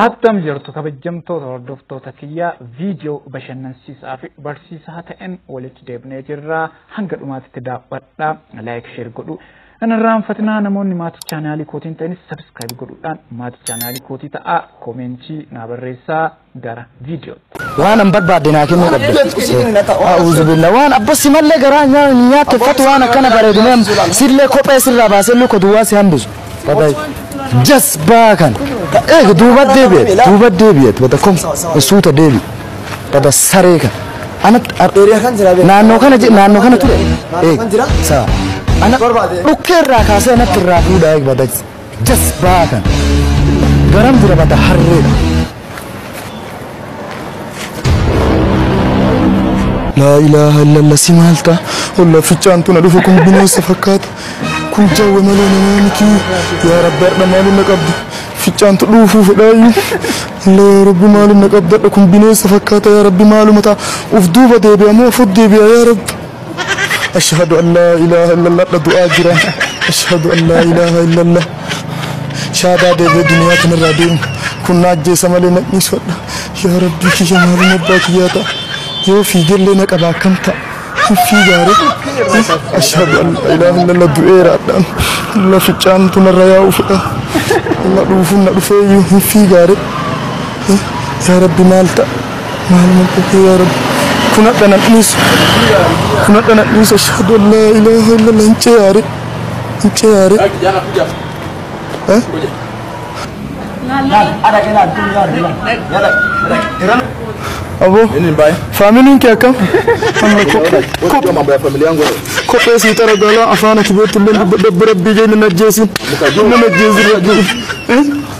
Attam jirtu kabajamtoota hordoftoota kiyyaa viidiyoo bashannansiisaa fi barsiisaa ta'een walitti deebinee jirra. Hanga dhumaatitti daawwadhaa, laayik sheer godhuu. Hin irraanfatinaa namoonni maatii chaanaalii kootiin ta'anis sabiskiraayib godhuudhaan maatii chaanaalii kootii ta'aa koomeentii naa barreessaa gara viidiyoo. Waan an barbaadde naa kennuu qabda. A'uuzubillah waan abba si mallee garaa nyaa- hin nyaatteffatu waan akkana bareedinee sillee kophee sirraa baasee luka duwwaa si hambisu. Baba jasbaa kan. Eega duuba deebi'e duuba deebi'e bada kom suuta deebi bada saree kan. Ana Eeriyaa kan jira beeku. naannoo kana je- naannoo kana ture. Naannoo kan jira? Eeg saa. Ana Barbaade. dhukkee irraa kaasee natti irraa fuudhaa eeg bada Jasbaa kan garam jira bata harree. Laa ilaaha illallah si maal ta'a? Olla fichaan tuna dhufu kun bineensa fakkaata. Kun jawwe malee namaa miti. Yaa rabbi har'a maaliin na qabda? Fichaan tu dhuufuu fedhaayyuu. Illee yaa rabbi maaliin na qabdadha kun bineensa fakkaata yaa rabbi maaluma ta'a? Uf duuba deebi'a moo fod deebi'a yaa rabbi? Ashhadu an laa ilaaha illallah dha du'aa jira Ashhadu an laa ilaaha illallah shaadaa deebi'ee duniyaa kanarraa deemu kun na ajjeesa malee na dhiisu hadha yaa rabbii kiyya maaluma abbaa kiyyaa ta'a yoo fiigellee na qaba akkam ta'a hin fiigaare Ashhadu an laa ilaaha illallah du'eera hadhaan lafichaan tunarra yaa'u fedha na dhuufuun na dhufeeyyuu hin fiigaare yaa rabbi maal ta'a Maal na godhe yaa rabbi kun hadha na dhiisu kun hadha na dhiisu ashhadu an laa ilaaha illallah hin ceyaare hin ceyaare eh abo faamiliin kee akkam amma kophee kophee sii xara gaalaa afaan ati beektu illee dubbadha rabbii jee nan ajjeesin nan ajjeesin rabbii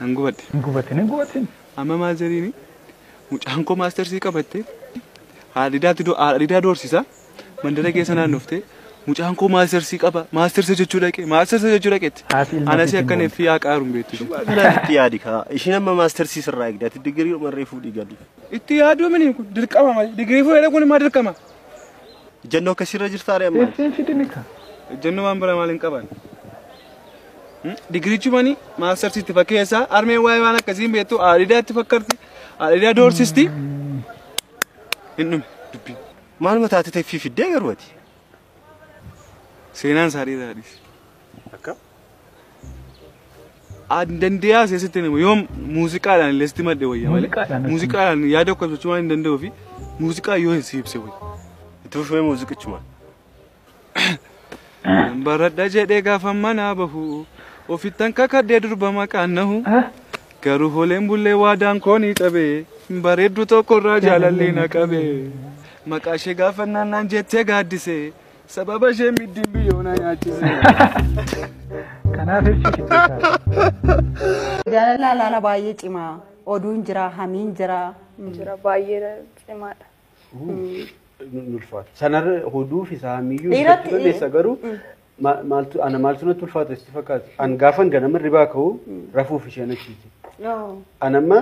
Nan gubadhe. Hin gubatin hin gubatin. Amma maal jedhiini? Mucaan koo maastersii qabattee haadhidaatti do- haadhidaa doorsisa mandara keessa naannoftee mucaan koo maastersii qaba maastersa jechuu dhaqe maastersa jechuu dhaqetti. Haati ilma Anasi ofiitiin akkan boonti. effii haa qaaruun beektu. ishee. Kanatti yaadi kaa. Ishiin amma maastersii sirraa eegdi. Ati digirii dhuma irree fuudhii gadi. Itti yaaduu mini kun dirqama malee digirii fuudhee kun immoo dirqama. Ijjannoo akkasirra jirtaare amma. Ittiin fidini ka. Ejjennoo waan biraa maal hin qaban. Digirichumani maastersii itti fakkeessa. Armeen waa'ee waan akkasiin beektu aadhidaa itti fakkarti. Aadhidaa doorsisti. Hin dhume dubbiin. Maaluma taate teffii fiddee garuu ati. Seenaan isaa dhiiraa dhiis. Akka? Aan dandeeyaa seesitti nama yoom muuziqaadhaan illee sitti madde wayya malee. Muuziqaadhaan natti Muuziqaadhaan yaada okkofachuu waan hin danda'uu fi muuziqaa yoo hin siibse wayya. Itti fufee muuziqichumaan. Nan baradha jedhee gaafan manaa bahu ofittan kakadhee durba maqaan nahu garuu holeen bullee waadaan koonii cabee bareeddu tokkorraa jaalallee na qabee maqaa ishee gaafannaan naan jettee gaaddisee sababa ishee middiin biyyoo na nyaachisee. Kanaaf ibsi kichichaa. Jaalalaa laala baay'ee cimaa. Oduun jira, hamiin jira. jira baay'ee cimaadha. Nun ulfaata. Sanarra hoduu fi saamiyyuu Dhiiratti- dubbachuu dandeessa garuu ma- maaltu ana maaltu natti ulfaata sitti fakkaata. An gaafan ganama ribaa ka'u rafuuf isheen achiiti. Yoo. An amma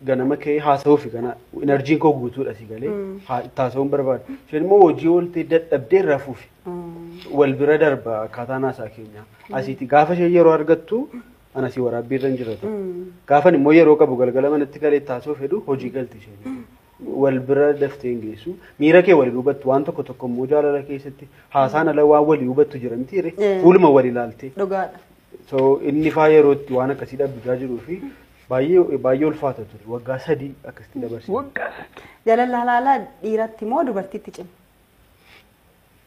ganama ka'ee haasa'uuf kana inarjiin koo guutuudha si galee haa- itti haasa'uun barbaada. Isheen immoo hojii ooltee dadhabdee rafuuf wal bira darba akkaataan haasaa keenya. Asiiti gaafa isheen yeroo argattu an asii waraabbii irra hin jiratu. Gaafan immoo yeroo qabu galgala manatti galee itti haasa'uuf hedu hojii galti isheen. wal bira daftee hin geessu. Miira kee wal hin hubattu. Waan tokko tokko immoo jaalala keessatti haasaan ala waan wal hin hubattu jira miti jedhe. Eh. Fuuluma wal ilaaltee. Dhugaadha. So inni faa yeroo itti waan akkasii dhabbisaa jiruu fi baay'ee baay'ee ulfaata ture. Waggaa sadii akkasitti dabarse. Waggaa sadii. Jaalala halaalaa dhiiratti moo dubartiitti cima?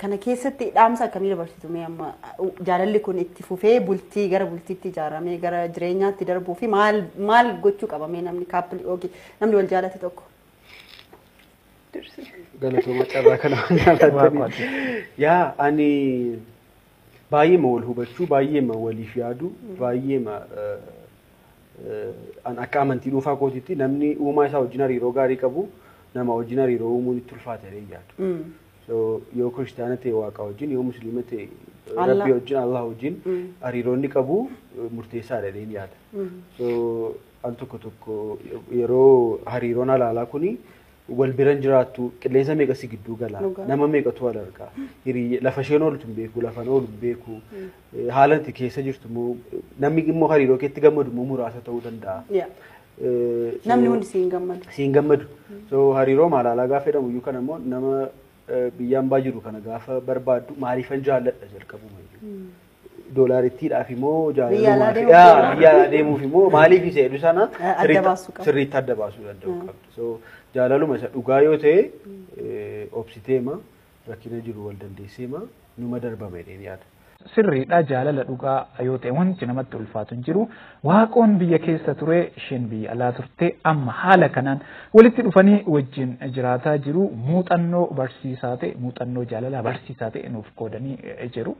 Kana keessatti dhaamsa akkamii dabarsitu mee amma jaalalli kun itti fufee bultii gara bultiitti ijaaramee gara jireenyaatti darbuu fi maal maal gochuu qaba mee namni kaappilii yookiin namni wal jaalate tokko. Galatooma carraa kana waan jaallattaniif. Yaa ani baay'eema wal hubachuu baay'eema waliif yaadu baay'eema eh, eh, an akka amantii dhuunfaa kootiitti namni uumaa isaa wajjin hariiroo gaarii qabu nama wajjin hariiroo uumuun itti ulfaata jedhee yaadu. So, yoo kiristaana ta'e waaqa wajjin yoo musliima ta'e Allah. rabbi wajjin allah wajjin hariiroonni qabu murteessaadha jedheen yaada. So, al tokko tokko yeroo hariiroon halaalaa kuni wal biran jiraattu qilleensa meeqa si gidduu gala Dhugaa. nama meeqatu wal argaa hiriyyee lafa isheen ooltu hin beeku lafan oolu hin beeku haala itti keessa jirtu immoo namni immoo hariiroo keetti gammadu immoo muraasa ta'uu danda'a. Yeah. Namni hundi si hin gammadu. Si hin gammadu. So hariiroo maalaalaa gaafa jedhamu iyyuu kana immoo nama biyyaan baa jiru kana gaafa barbaaddu maaliifan jaalladha jalqabuma iyyuu. Doolaarittiidhaaf immoo jaalalummaa fi biyya alaa deemuuf immoo maaliif isa jedhu sana sirriitti adda baasuu danda'u qabdu. So jaalaluma isa dhugaa yoo ta'e obsiteema rakkina jiru wal dandeesseema numa darbama jedheen yaada. Sirriidha jaalala dhugaa yoo ta'e wanti namatti ulfaatu hin jiru. Waaqoon biyya keessa ture isheen biyya alaa turte amma haala kanaan walitti dhufanii wajjin jiraataa jiru muuxannoo barsiisaa ta'e muuxannoo jaalalaa barsiisaa ta'e nuuf qoodanii jiru.